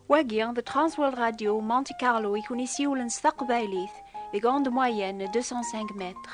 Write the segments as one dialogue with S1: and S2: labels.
S1: Wagi, the Transworld Radio Monte Carlo i kun isiwlen s taqbaylit deg onde moyenne 205 mètres.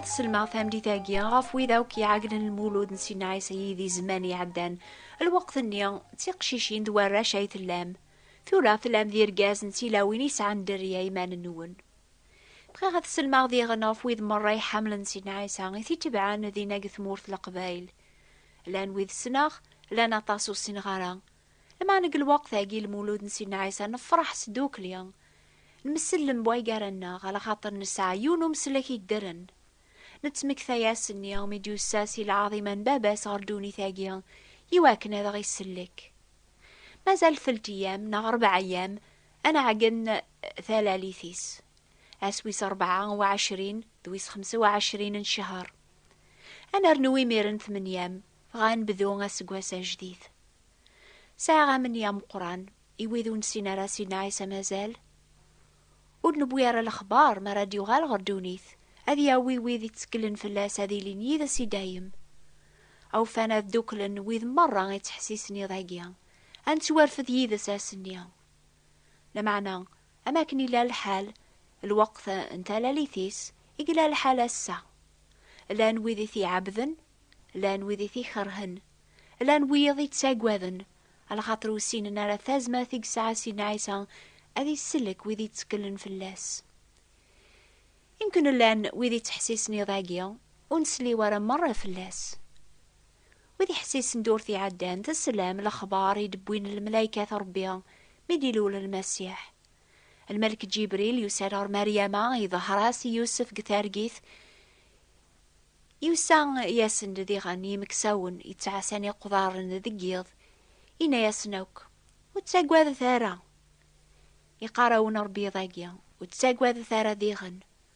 S1: ad selmeɣ tamdit-agi ɣef wid akk iɛegnen lmulud n Sina Ɛisa yid-i zzman iɛeddan. Lweqt-nni, d tiqcicin d warrac ay tellam. Tura, tellam d irgazen d tilawin yesɛan dderya iman-nwen. Bɣiɣ ad sellmeɣ diɣen ɣef wid merra iḥamlen Sidna Ɛisa i t-itebɛen dinna deg tmurt Leqbayel. Llan wid ssneɣ, llan aṭas ur ssineɣ ara. Lmeɛna deg lweqt-agi n Lmulud n Sidna Ɛisa nefreḥ sdukli. Nmsellem way gar-nneɣ ala xaṭer nesɛa yiwen n umeslek yeddren. Nettmektay-asen i mi d-yussa si lɛaḍima n Baba-s ɣer ddunit-agi i wakken ad aɣ-isellek. Mazal telt-eyyam neɣ rebɛa-eyyam Ad nɛeggen talalit-is. Ass wis rebɛa u ɛecrin d wis xemsa u ɛecrin n ccehṛ. Ad nernu imiren tmenyam, dɣa ad nebdu aseggas ajdid. Sɛiɣ amenya ameqqran i wid ur nessin ara Sidna Ɛisa mazal ur d-newwi ara lexbaṛ mi ara d-yuɣal ɣer ddunit, ad yawi wid itteklen fell-as ad ilin yid-s i dayem. Awufan ad ddukklen wid meṛṛa ittḥessisen iḍ-agi, ad nettwarfed yid-s ass-nni. Lameɛna, am akken yella lḥal lweqt n talalit-is, i yella lḥal ass-a. Llan wid i t-iɛebbden, llan wid i t-ikerhen, llan wiyaḍ i ttaggaden, lxaṭer ur ssinen ara tazmert i yesɛa Sidna Ɛisa ad isellek wid yetteklen fell-as. Imken llan wid yettḥessisen iḍ-agi ur nsliw ara merra fell-as. Wid iḥessisen durt iɛeddan, teslam lexbar i d-wwin lmelaykat Rebbi mi d-ilul Lmasiḥ. Lmelk Ǧibril yusa-d ɣer Maryama, iḍher-as i Yusef deg targit, yusa yasen-d diɣen yimeksawen yettɛassan iqḍaren deg yiḍ, yenna-yasen akk, Ur ttagadet ara! Iqqar-awen Rebbi iḍ-agi, ur ttagadet ara diɣen,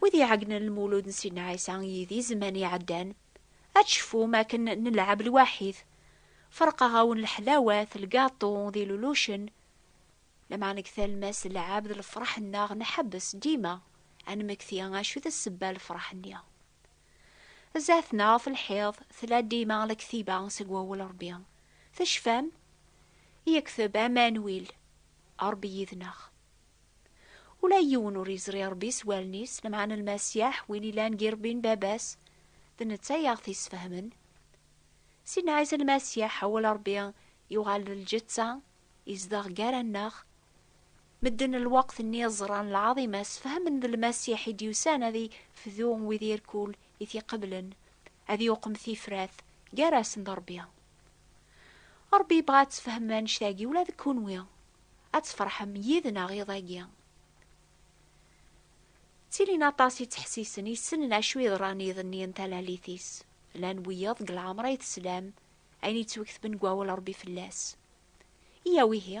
S2: Wid iɛegnen
S1: lmulud n Sidna Ɛisa yid i zzman iɛeddan, ad tcefum akken nelɛeb lwaḥid, ferqeɣ-awen leḥlawat, lgaṭu d ilulucen, lameɛna deg talmas n lɛebd lefreḥ-nneɣ nḥebbes dima ad nmekti acu i d ssebba n lefreḥ-nni. Zdat neɣ ɣef lḥiḍ tella dima lektiba seg wawal Rebbi. Tecfam? Yekteb Amanuil, Rebbi yid-neɣ. Ula yiwen ur yezri Rebbi s wallen-is, lameɛna Lmasiḥ, win yellan g Irebbi n Baba-s, d netta i aɣ-t-yesfehmen. Sidna Ɛisa Lmasiḥ, awal Rebbi, yuɣal d lǧetta, yezdeɣ gar-aneɣ. Medden n lweqt-nni ẓran lɛaḍima-s, fehmen d Lmasiḥ i d-yusan ad ifdu wid irkul i t-iqeblen, ad yuqem tifrat gar-asen d Ṛebbi. Ṛebbi yebɣa ad tfehmem annect-agi ula d kenwi, ad tfeṛḥem yid-neɣ iḍ-agi. Ttilin aṭas yettḥessisen, yessnen acu yeḍran iḍ-nni n talalit-is. Llan wiyaḍ deg lɛemṛ ay teslam ayen yettwektben deg Wawal n Ṛebbi fell-as. Iyyaw ihi,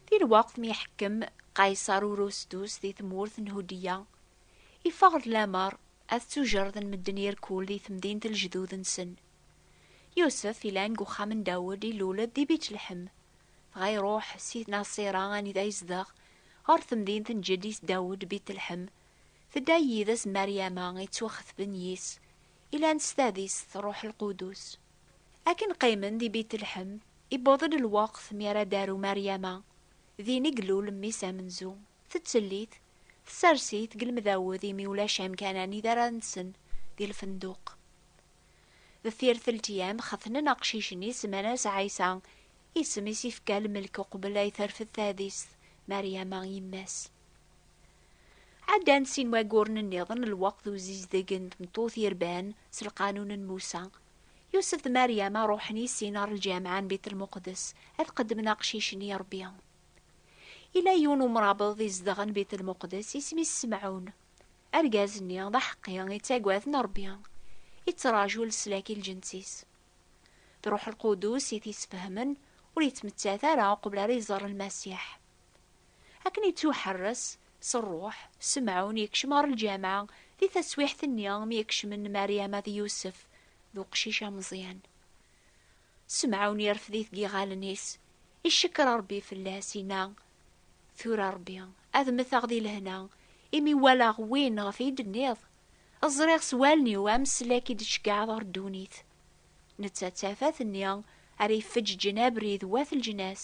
S1: Di lweqt mi
S2: iḥekkem
S1: Qayṣer Urustus di tmurt n Hudya, iffeɣ-d lamer ad ttujerden medden irkul di temdint n lejdud-nsen. Yusef ilan deg uxxam n Dawed ilul-d di Bitlḥem, dɣa iruḥ si Naṣira anida izdeɣ, ɣer temdint n jeddi-s Dawed, Bitlḥem, tedda-yi yid-s Maryama ittwaxetben yis, ilan s tadist Ṛuḥ Lqudus. Akken qqimen di Bitlḥem, iwweḍ-d lweqt mi ara d-taru Maryama. Din i ilul mmi-s amenzu. Tettellit, tessers-it deg lemdawed imi ulac amkan anida ara nsen di lfenduq. Deffir teltyam, xetnen aqcic-nni, semman-as Ɛisa, isem i s-ifka lmelk uqbel ay terfed tadist Maryama, yemma-s. Ɛeddan sin wayyuren nniḍen, lweqt d uzizdeg n tmeṭṭut yerban s lqanun n Musa. Yusef d Mariama ruḥen i sin ɣer lǧameɛ n Bit Lmuqdes ad qeddmen aqcic-nni i Ṛebbi. Yella yiwen umrabeḍ izedɣen Bit Lmuqdes, isem-is Semɛun. Argaz-nni d aḥeqqi, ittaggaden Ṛebbi, ittraǧu leslak i lǧens-is. D Ṛuḥ Lqudus i t-isfehmen, ur yettmettat ara uqbel ara iẓer Lmasiḥ. Akken yettuḥerres s rruḥ, Semɛun yekcem ɣer lǧameɛ di taswiɛt-nni mi ak-kecmen Mariama d Yusef d uqcic ameẓyan. Semɛun yerfed-it deg yiɣallen-is, icekker Rebbi fell-as, yenna, Tura Rebbi, ad mmteɣ di lehna, imi walaɣ win ɣef i d-tenniḍ, ẓriɣ s wallen-iw ameslak i d-tceggɛeḍ ɣer ddunit. Netta d tafat-nni ara ifeǧǧǧen abrid wat leǧnas,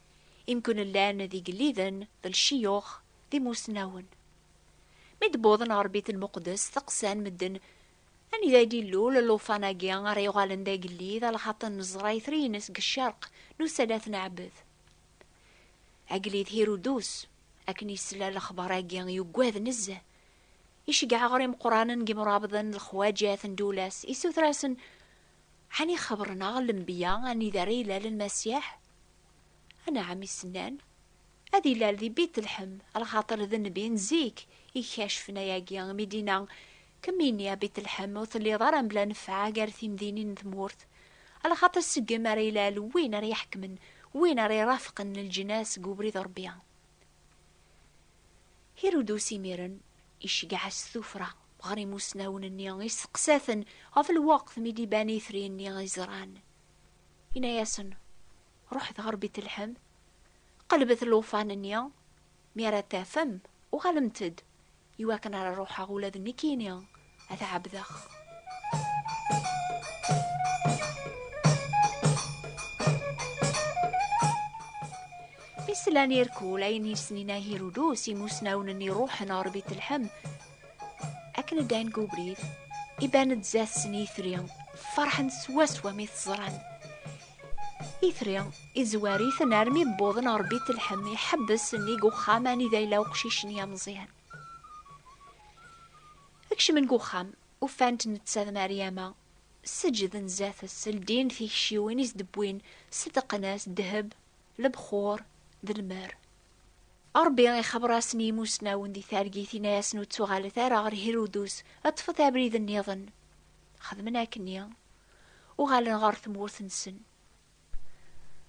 S1: imken llan d igelliden, d lciyux, d imusnawen. Mi d-wwḍen ɣer Bit Lmuqdes, steqsan medden, Anida i d-ilul llufan-agi ara yuɣalen d agellid, a lxaṭer neẓra itri-ines deg ccerq n usali ad t-neɛbed? Agellid Hirudus, akken yesla lexbar-agi, yuggad nezzeh. Iceggeɛ ɣer imeqqranen deg yimrabḍen, lexwajat n Dulas, isuter-asen, Ɛni xebren-aɣ lenbiya anida ara ilal Lmasiḥ? Anɛam i s-nnan, Ad ilal di Bit-Lḥem, lxaṭer d nnbi n zik i ikacfen ayagi mi d-inna, Kem ini, a Bit-Lḥem, ur telliḍ ara mebla nnfeɛ gar timdinin n tmurt, lxaṭer seg-m ara ilal win ara iḥekmen, win ara irafqen lǧnas deg ubrid n Rebbi. Hirudus imiren iceggeɛ-as tuffra ɣer imusnawen-nni, isteqsa-ten ɣef lweqt mi d-iban itri-nni iẓran. Yenna-yasen, Ruḥet ɣer Bitleḥem, qelbet llufan-nni, mi ara t-tafem, uɣalemt-d, iwakken ara ruḥeɣ ula d nekkini ad ɛebdeɣ. Islan irkul ayen yesnin ahirudus imusnawen-nni ruḥen ɣer bit lḥem akken ddan deg ubrid iban-d zdat-sen itri ferḥen swaswa mi t-ẓran itri izwar-iten armi wwḍen ɣer bit lḥem iḥebbes nnig uxxam anida yella uqcic-nni ameẓyan Kecmen deg uxxam, ufan-t netta d Meryama, seǧǧden zdat-s, ldin tikciwin i s-d-wwin, ṣeddqen-as ddheb, lebxur, d lmer. Ṛebbi ixebbeṛ-asen i yimussnawen di targit, yenna-yasen ur ttuɣalet ara ɣer Hirudus, ṭṭfet abrid nniḍen. Xedmen akken-nni, uɣalen ɣer tmurt-nsen.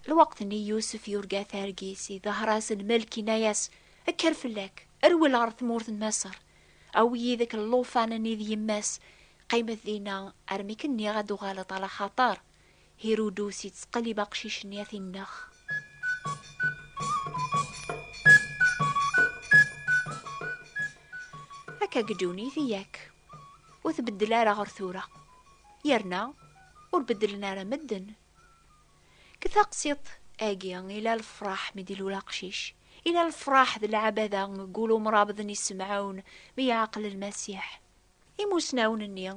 S1: Lweqt-nni Yusef yurga targit i dehra-s n Melk inna-yas, Kker fell-ak, rwel ɣer tmurt n Maṣer, awi yid-k llufan-nni d yemma-s, qqimet dinna armi k-nniɣ ad d-tuɣaleḍ alaxaṭer Hirudus yettqellib aqcic-nni ad t-inneɣ. Akka deg ddunit i yak. Ur tbeddel ara ɣer tura. Yerna ur beddlen ara medden. Deg taqsiḍt agi ila lefraḥ mi d-ilul aqcic, ila lefraḥ d lɛabada deg ul umrabeḍ n yisemɛawen mi yeɛqel Lmasiḥ. Imusnawen-nni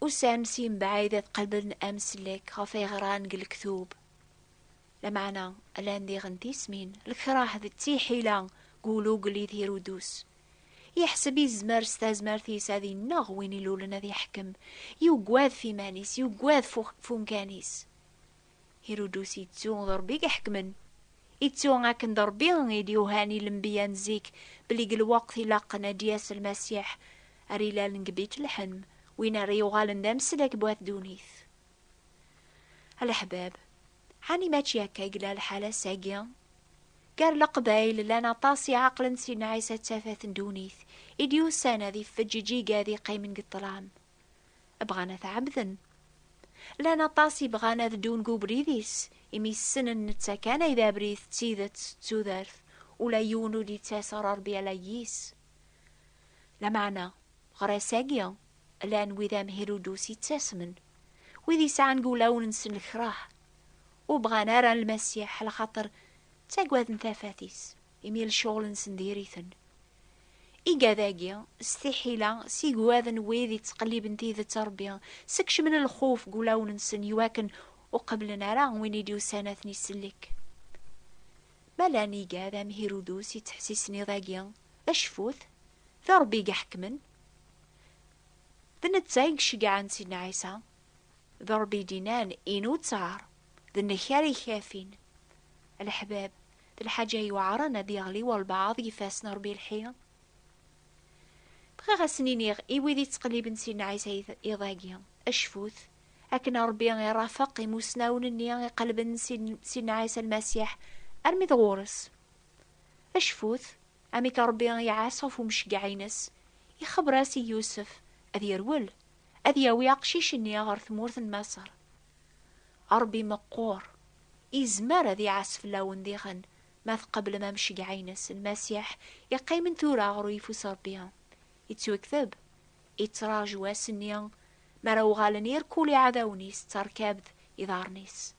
S1: usan-d si mebɛid ad qelben amsellek ɣef ay ɣran deg lektub. Lameɛna llan diɣen tismin, lekrah d tiḥila deg ulugel i tirudus. Yeḥseb izmer s tazmert-is ad ineɣ win ilulen ad iḥkem, yugad f iman-is, yugad f umkan-is. Hirudus ittu d Ṛebbi i iḥekmen. Ittu akken d Ṛebbi i d-yuhan i lenbiya n zik belli deg lweqt ilaqen ad d-yas Lmasiḥ, ar ilalen deg Bitleḥem, win ara yuɣalen d ameslek n wat ddunit. A leḥbab, Ɛni mačči akka i yella lḥal ass-agi? Gar Leqbayel llan aṭas i ɛeqlen si Nɛisa d tafat n ddunit i d-yusan ad iffeǧ iǧiga ad iqqimen deg ṭṭlam. Bɣan ad t-ɛebden. Llan aṭas i bɣan ad ddun deg ubrid-is imi ssnen netta kan ay d abrid d tidet d tudert, ula yiwen ur d-yettas ɣer Rebbi ala yis. Lameɛna, ɣer ass-agi, Llan wid am Hirudus yettasmen, wid yesɛan deg wulawen-nsen lekrah, ur bɣan ara Lmasiḥ lxaṭer ttagaden tafat-is, imi lecɣel-nsen diri-ten. Igad-agi, s tiḥila, s igwad n wid yettqelliben tidet n Ṛebbi, skecmen lxuf deg wulawen-nsen iwakken ur qebblen ara win i d-yusan ad ten-isellek. Ma llan igad am Hirudus yettḥessisen iḍ-agi, acfut, d Ṛebbi i iḥekkmen. D netta i iceggɛen Sidna Ɛisa, d Ṛebbi i d-innan, Inu ţţar, d nek ara ikafin. A leḥbab, d lḥaǧa yuɛren ad yeɣli walebɛaḍ deg ifassen n Ṛebbi lḥi. Bɣiɣ a sen-iniɣ i wid iţqelliben Sidna Ɛisa iḍ-agi, Acfut, akken Ṛebbi iṛafeq imusnawen-nni iqellben Sidna Ɛisa Lmasiḥ armi d ɣur-s. Acfut! Amek Ṛebbi i iɛas ɣef umceggeɛ-ines, ixebber-as i Yusef ad yerwel, ad yawi aqcic-nni ɣer tmurt n Maṣer. Ṛebbi meqqur, izmer ad iɛas fell-awen diɣen ma tqeblem amceggeɛ-ines, Lmasiḥ iqqimen tura ɣer uyeffus n Ṛebbi, ittwekteb, ittraǧu ass-nni mi ara uɣalen irkul iɛdawen-is d terkabt iḍarren-is.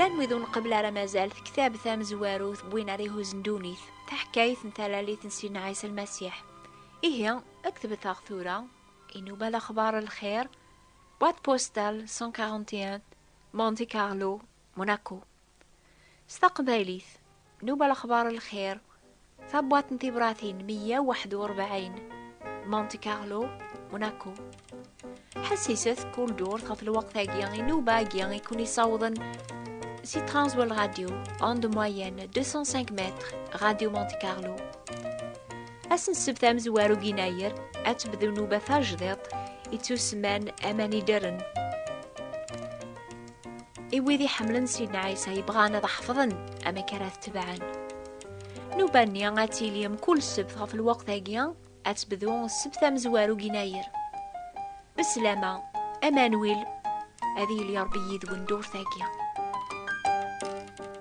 S1: Llan wid ur nqebbel ara mazal tektabt amezwarut n win ara ihuzen ddunit, taḥkayt n talalit n Sidna Ɛisa Lmasiḥ. Ihi, ad k-tbet-aɣ tura, inuba lexbar n lxir, boîte postale 141, Monte Carlo, Monaco. S taqbaylit, Nuba Lexbar n Lxir, tabwaḍt n tibratin 141, Monte Carlo, Monaco. Ḥessiset kul ddurt ɣef lweqt-agi inuba-agi i ken-isawḍen si Transworld Radio, onde moyenne 205 mètres, Radio Monte Carlo. Ass n ssebt amezwaru n Yennayer, ad tebdu nnuba tajdiṭ ittusemman Aman Ideren. i wid iḥemmlen Sidna Ɛisa yebɣan ad ḥefḍen amek ara t-tebɛen. Nuba-nni ad tili mkul ssebt ɣef lweqt-agi ad tebdu ssebt amezwaru deg Yennayer. Beslama, Emmanuel, ad yili Ṛebbi yid-wen dduṛt-agi.